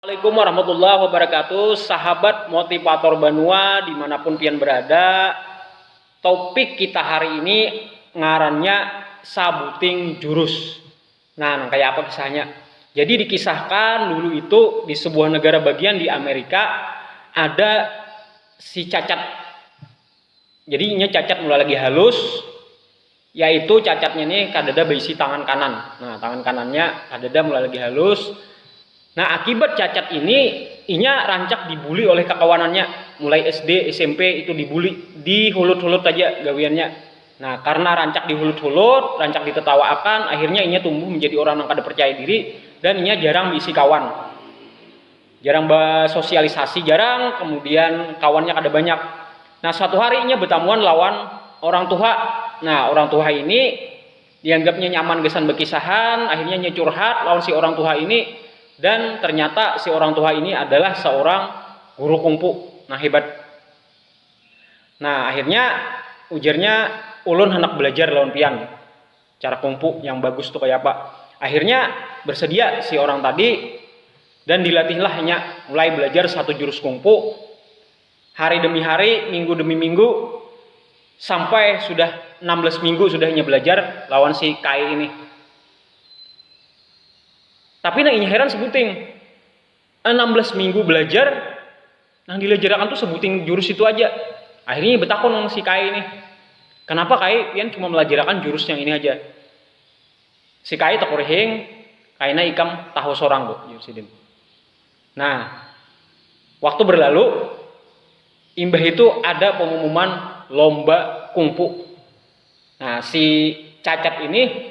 Assalamualaikum warahmatullahi wabarakatuh Sahabat motivator banua dimanapun pian berada Topik kita hari ini ngarannya sabuting jurus Nah nang kaya apa kisahnya Jadi dikisahkan dulu itu di sebuah negara bagian di Amerika ada si cacat Jadi inya cacat mulai lagi halus Yaitu cacatnya nih kadada baisi tangan kanan. Nah, tangan kanannya kadada mulai lagi halus. Nah, akibat cacat ini inya rancak dibuli oleh kakawanannya. Mulai SD, SMP itu dibuli, dihulut-hulut haja gawiannya. Nah, karna rancak dihulut-hulut, rancak ditetawaakan, akhirnya inya tumbuh menjadi orang nang kada percaya diri dan inya jarang baisi kawan. Jarang basosialisasi, jarang, kemudian kawannya kada banyak. Nah, suatu hari inya betamuan lawan orang tuha. Nah, orang tuha ini dianggapnya nyaman gasan bakisahan, akhirnya inya curhat lawan si orang tuha ini dan ternyata si orang tuha ini adalah seorang guru kungpu nang hebat. Nah, akhirnya ujarnya, ulun handak balajar lawan pian. cara kungfu yang bagus tuh kayak apa. Akhirnya bersedia si orang tadi dan dilatihlahnya mulai belajar satu jurus kungfu hari demi hari, minggu demi minggu sampai sudah 16 minggu sudah inya belajar lawan si Kai ini. Tapi nang inya heran sebuting. 16 minggu belajar nang dilajarakan tuh sebuting jurus itu aja akhirnya betakon sama si Kai nih kenapa Kai pian cuma melajarakan jurus yang ini aja si Kai takurihing kaina ikam tahu sorang bu jurus sidin nah waktu berlalu imbah itu ada pengumuman lomba kungfu nah si cacat ini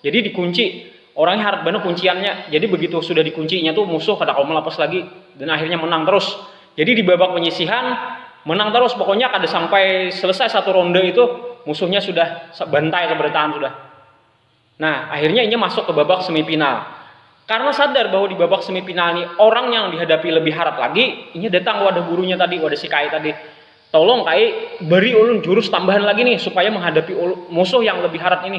Jadi dikunci, orangnya harat banar kunciannya. Jadi begitu sudah dikuncinya tuh musuh kada kawa melapas lagi dan akhirnya menang terus. Jadi di babak penyisihan menang terus pokoknya kada sampai selesai satu ronde itu musuhnya sudah bantai kebertahan sudah. Nah, akhirnya inya masuk ke babak semifinal. Karena sadar bahwa di babak semifinal ini orang yang dihadapi lebih harat lagi, inya datang ke wadah gurunya tadi, wadah si Kai tadi. Tolong Kai, beri ulun jurus tambahan lagi nih supaya menghadapi musuh yang lebih harat ini.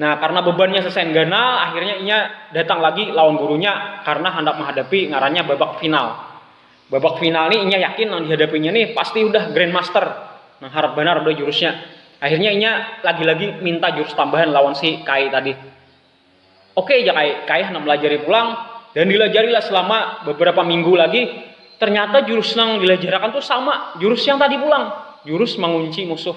Nah, karena bebannya sesain ganal, akhirnya inya datang lagi lawan gurunya karena handak menghadapi ngarannya babak final. Babak final nih inya yakin nang dihadapinya nih pasti udah grandmaster nang harat banar udah jurusnya. Akhirnya inya lagi-lagi minta jurus tambahan lawan si Kai tadi. Oke ja Kai, Kai handak melajari pulang dan dilajarilah selama beberapa minggu lagi. Ternyata jurus nang dilajarakan tuh sama jurus yang tadi pulang, jurus mengunci musuh.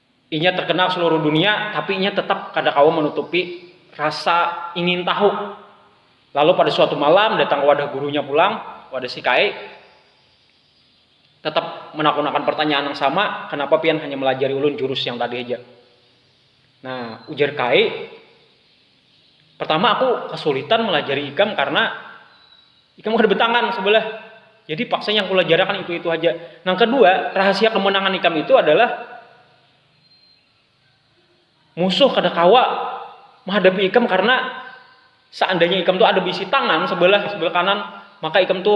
Inya terkenal seluruh dunia, tapi inya tetap kada kawa menutupi rasa ingin tahu. Lalu pada suatu malam datang wadah gurunya pulang, wadah si Kaei, tetap menakunakan pertanyaan nang sama, kenapa pian hanya melajari ulun jurus yang tadi haja. Nah, ujar Kaei. Pertama aku kasulitan malajari ikam karna ikam kada betangan sebelah, jadi paksa yang kulajarakan itu-itu haja. Nang kedua, rahasia kemenangan ikam itu adalah musuh kada kawa mahadapi ikam karna seandainya ikam tu ada beisi tangan sebelah, sebelah kanan maka ikam tu.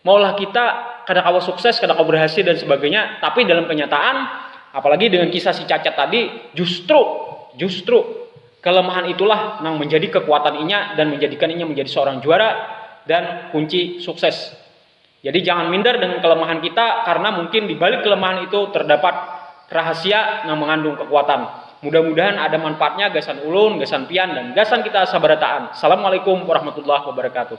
maulah kita kada kawa sukses, kada kawa berhasil dan sebagainya, tapi dalam kenyataan apalagi dengan kisah si cacat tadi justru justru kelemahan itulah nang menjadi kekuatan inya dan menjadikan inya menjadi seorang juara dan kunci sukses. Jadi jangan minder dengan kelemahan kita karena mungkin di balik kelemahan itu terdapat rahasia nang mengandung kekuatan. Mudah-mudahan ada manfaatnya gasan ulun, gasan pian dan gasan kita sabarataan. Assalamualaikum warahmatullahi wabarakatuh.